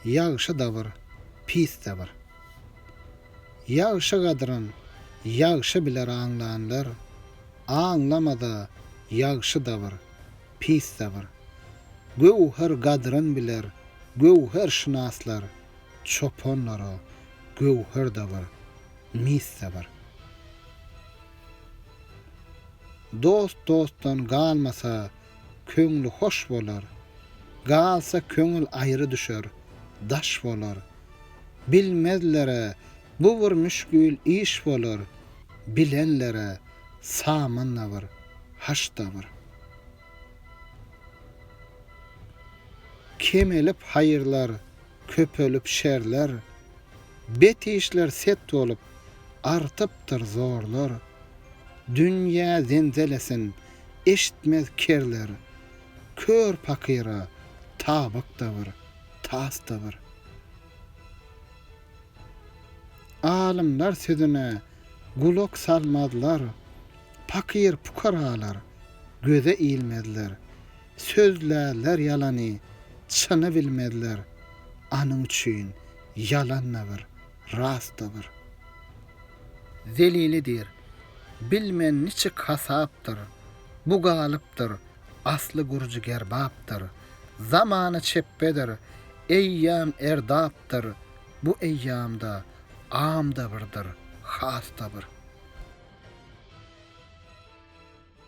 Ýagşy-da bir, pis-de bir. Ýagşy gadryn ýagşy biler aňlanlar, aňlamada ýagşy-da bir, pis-de bir. Göwher gadryn biler göwherşynaslar, çopanlara göwher-de bir, mis-de bir. Dost dostdan galmasa, köňli hoş bolar, Galsa köňül aýry düşer, daş bolar. Bilmezlere bu bir müşgil iş bolar, Bilenlere samanda bir, haşda bir. Kemelip haýyrlar, köpelip şerler, Bet işler set bolup, artypdyr zorlar. Dünýä zenzelesin, Eşitmez kerler, kör pakyra tabak-da bir, tas-da bir. Alymlar sözüne gulak salmazlar, pakyr-pukaralar göze ilmezler. Sözlärler ýalany, çyny bilmezler, anyň üçin ýalan-da bir, Ras-da bir zelili diýr. Bilmen niçik hasapdyr, Bu galypdyr, asly gürji gerbapdyr. Zamana çepbedir, eýýam erdapdyr, Bu eýýamda am-da birdir, has-da bir.